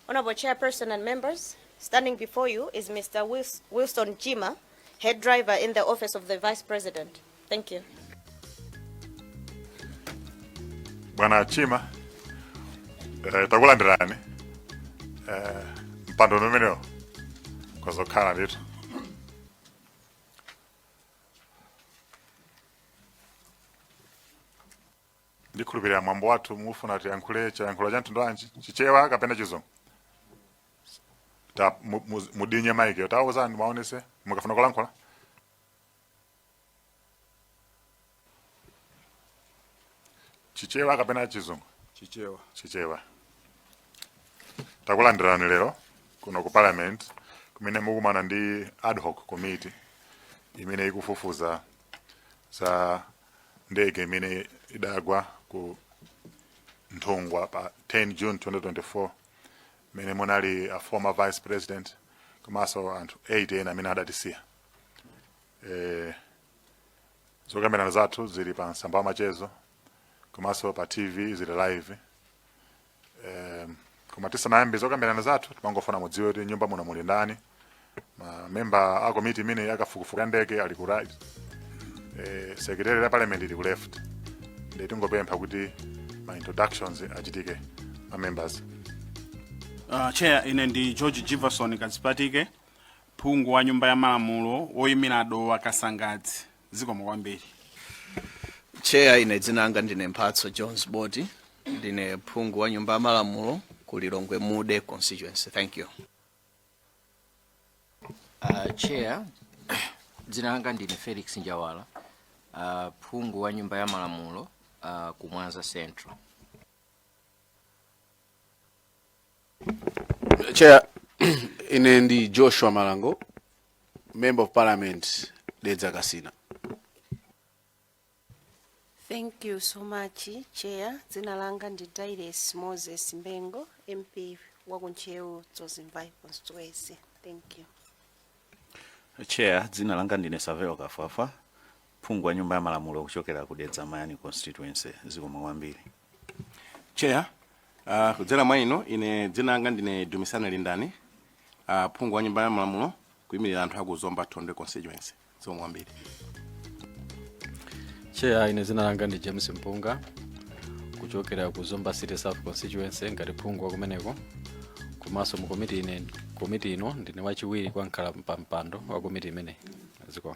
Honorable Chairperson and members, standing before you is Mr. Wils- Wilson Chima, head driver in the office of the Vice President. Thank you. bwana chima eh, takulandirani eh, mpando umenewo khazikikani ndithu ndikhulupirira mwambo wathu mufuna tiyankhule chiyankhulo cha mtundu wanji chichewa kapena chizungu ta mu- mu- mudinye maikiyo tiuzeni mwaonetse mukafuna kulankhula chichewa kapena chizungu chichewa chichewa takulandirani lero kuno ku parliament kumene mukumana ndi ad hoc committee imene ikufufuza za ndege imene idagwa ku nthungwa pa 10 june 2024 mmene munali a former vice president komanso anthu 8 ena amene adatisiya eh, zokambirana zathu zili pa masamba a mchezo komanso pa tv zili live Eh, koma tisanayambe zokambirana zathu timangofuna mudziwe kuti nyumba muno muli ndani mamemba a komiti imene yakafukufuku ya ndege ali ku right eh, secretariat ya parliament ili ku left nde tingopempha kuti ma introductions achitike ma members Uh, chair ine ndi george jivason kadzipatike phungu wa nyumba ya malamulo woyimira dowa kasangadzi zikomo kwambiri cheya ine dzina langa ndine mphatso jones boti ndine phungu wa nyumba ya malamulo ku lilongwe mude constituency thank you Uh, chair dzina langa ndine felix njawala uh, phungu wa nyumba ya malamulo uh, ku mwanza central Chair, ine ndi Joshua Malango, Member of Parliament, Dedza Kasina. Thank you so much, Chair. Dzina langa ndi Dailes Moses Bengo, MP wa ku Ntcheu Dzonzi Mvai constituency. Thank you. chair dzina langa ndine savel kafwafwa phungu wa nyumba ya malamulo kuchokera ku dedza mayani constituency zikomo kwambiri cheya uh, kudzera mwa inu ine dzina langa ndine dumisani lindani uh, phungu wa nyumba ya malamulo kuyimirira anthu aku zomba thondwe constituency zikomo kwambiri cheya ine dzina langa ndi james mpunga kuchokera ku zomba city south constituency ngati phungu wakumeneko komanso mu komiti ine komiti ino ndine wachiwiri kwa mkhalapampando wa komiti imeneyi zikomo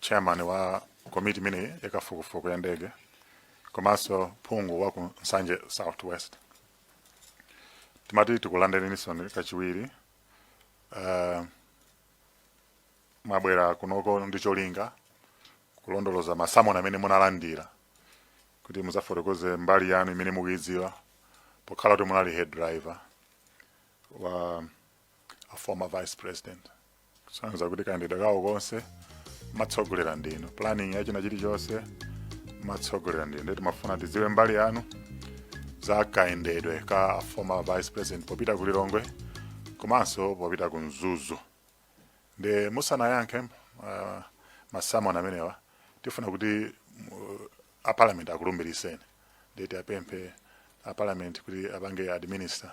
chairman wa komiti imeneyi yakafukufuku ya ndege komanso phungu wa ku nsanje southwest timati tikulandireninsoni kachiwiri uh, mwabwera kunoko ndi cholinga kulondoloza masamoni amene munalandira kuti mudzafotokoze mbali yanu imene mukuidziwa pokhala kuti munali head driver wa a former vice president kusonyeza kuti kayendedwe kawo konse matsogolera ndinu planning ya china chilichonse matsogolera ndinu ndiye timafuna tidziwe mbali yanu za kayendedwe ka a former vice president popita ku lilongwe komanso popita ku mzuzu ndiye musanayankhe uh, masamoni amenewa tifuna kuti mu- a parliament akulumbiriseni ndiye tiwapemphe a parliament kuti apange administer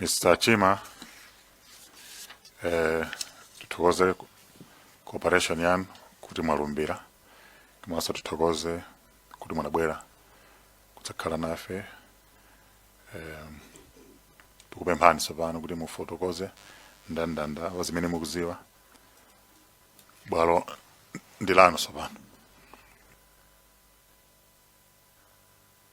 Mr. Chima, eh, tithokoze cooperation yanu kuti mwalumbira komanso tithokoze kuti munabwera kudzakhala nafe eh, tikupemphani tsopano kuti mufotokoze ndandanda wa zimene mukuziwa bwalo ndi lanu tsopano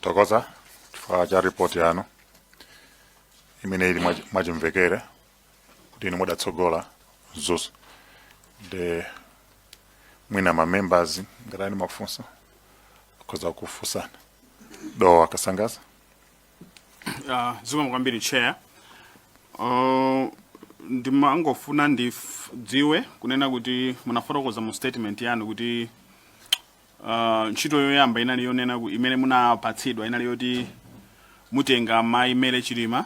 tokoza chifukwa cha ripoti yanu imene ili mwachi- mwachimvekere kuti inu mudatsogola Mzuzu ndiye mwina ma members ngati ali ndi mafunso akhoza kukufunsani dowa kasangaza Uh, zikomo kwambiri chair uh, ndimangofuna ndidziwe kunena kuti munafotokoza mu statement yanu kuti uh, ntchito yoyamba inali yonena ku- imene munapatsidwa inali yoti mutenga mayi Mary chilima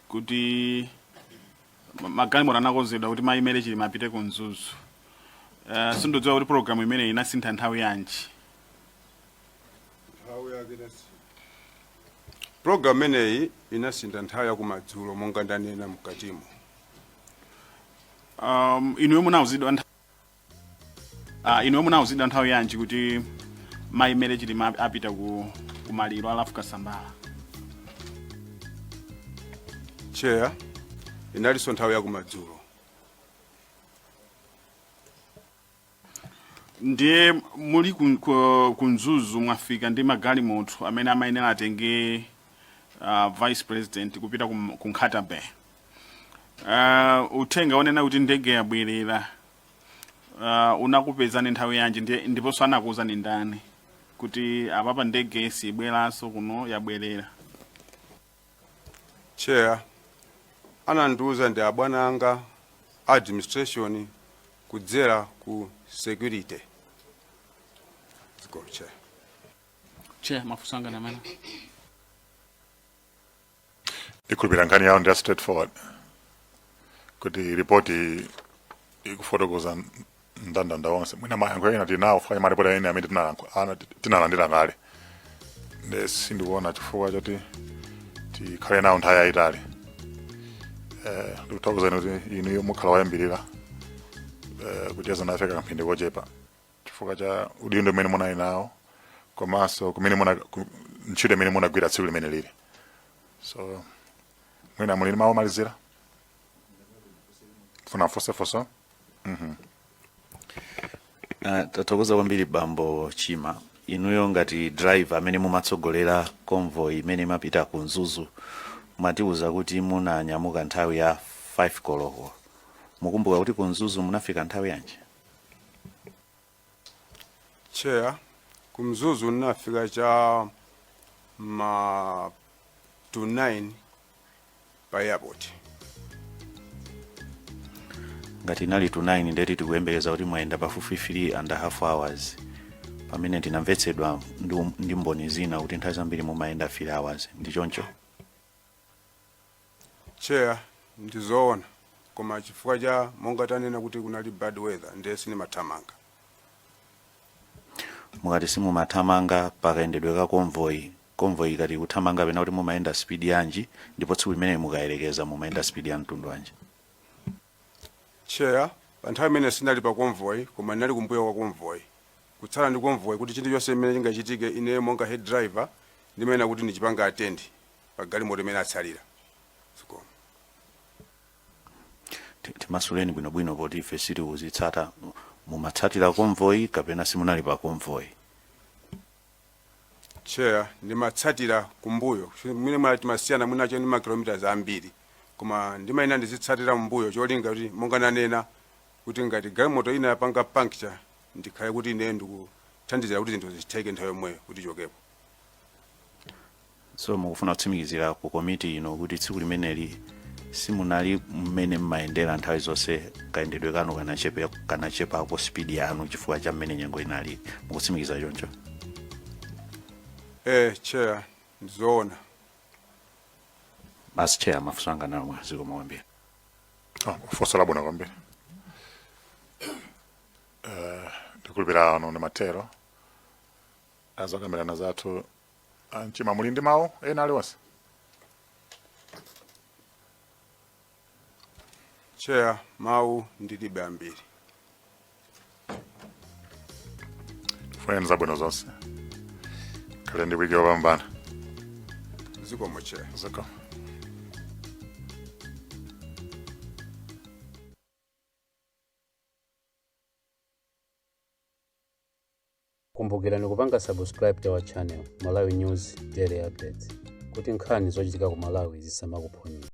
kuti ma- magalimoto anakonzedwa kuti mayi Mary chilima apite ku mzuzu uh, sindidziwa kuti program imeneyi inasintha nthawi yanji nthawi yake inasintha pulogalamu imeneyi inasintha nthawi yakumadzulo monga ndanena mkatimo um, inuyo munauzidwa ntha- Ah, inuyo munauzidwa nthawi yanji kuti mayi Mary chilima ap- apita ku kumaliro a Ralph Kasambara chair inalinso nthawi yakumadzulo ndiye muli kun- ku- ku mzuzu mwafika ndi magalimoto amene amayenera atenge uh, vice president kupita kum- ku nkhata bay uh, uthenga onena kuti ndege yabwerera uh, unakupezani nthawi yanji ndiye- ndiponso anakuuzani ndani kuti apapa ndege sibweranso kuno yabwerera chair anandiuza ndi abwana anga administration kudzera ku security zikomo chair chair mafunso anga nanenso ndikhulupira nkhani yawo ndiya straightforward kuti ripoti ikufotokoza ndandanda onse mwina mayankho ena tinawona m'malipoti ena amene tinalankhula- ana- tinalandira kale nde sindikuona chifukwa choti tikhale nawo nthawi yayitali Eh, ndikuthokozani kuti inuyo mukhala woyambirira eh, kucheza nafe kamphindi kochepa chifukwa cha udindo umene munali nawo komanso kumene muna ku- ntchito imene munagwira tsiku limene lili so mwina muli ndi mawu omalizira funa fosefoso Ah, tathokoza kwambiri bambo chima inuyo ngati driver amene mumatsogolera convoy imene imapita ku mzuzu mwatiuza kuti munanyamuka nthawi ya 5 koloko mukumbuka kuti ku mzuzu munafika nthawi yanji Chair, ku Mzuzu ndinafika cha ma to 9 pa airport. ngati inali to 9 ndeti tikuyembekeza kuti mwayenda pafupifupi 3 and a half hours pamene tinamvetsedwa ndi, um- ndi mboni zina kuti nthawi zambiri mumayenda 3 hours ndi choncho Chair ndizoona koma chifukwa cha monga tanena kuti kunali bad weather ndiye sitimathamanga. mukati simumathamanga pakayendedwe ka convoy convoy ikati ikuthamanga pena kuti mumayenda speed yanji ndipo tsiku limeneli mukayerekeza mumayenda speed ya mtundu wanji Chair pa nthawi imene sindinali pa convoy koma ndinali kumbuyo kwa convoy kutsala ndi convoy kuti chinthu chonse chimene chingachitike ine monga head driver ndimayenera kuti ndichipanga attend pa galimoto imene yatsalira zikomo Ti- timasulireni bwinobwino poti ife sitikuzitsata mumatsatira konvoyi kapena simunali pa konvoyi chair ndimatsatira kumbuyo mwina mwake timasiyana mwina chabe ndi makilomitas ambiri koma ndimayenera ndizitsatira mbuyo cholinga kuti monga nanena kuti ngati galimoto ina yapanga puncture ndikhale kuti ine ndikuthandizira kuti zinthu zitheke nthawi yomweyo kuti tichokepo so mukufuna kutsimikizira ku komiti ino kuti tsiku limeneli simunali mmene mmayendera nthawi zonse kayendedwe kanu kanachepe kanachepako spidi yanu chifukwa cha mmene nyengo inali mukutsimikiza choncho eh chair ndizoona basi chair mafunso anga ndi omwewo zikomo kwambiri Ah, funso labwino kwambiri Eh, ndikhulupira ano ndi mathero a zokambirana zathu Achair muli ndi mawu ena aliwonse? Chair, mawu ndilibe ambiri. Kufunirani zabwino zonse. Mukhale ndi wiki yopambana. Zikomo chair. Zikomo. Kumbukirani kupanga subscribe to our channel Malawi News Daily Updates kuti nkhani zochitika ku Malawi zisamakuphonyeni.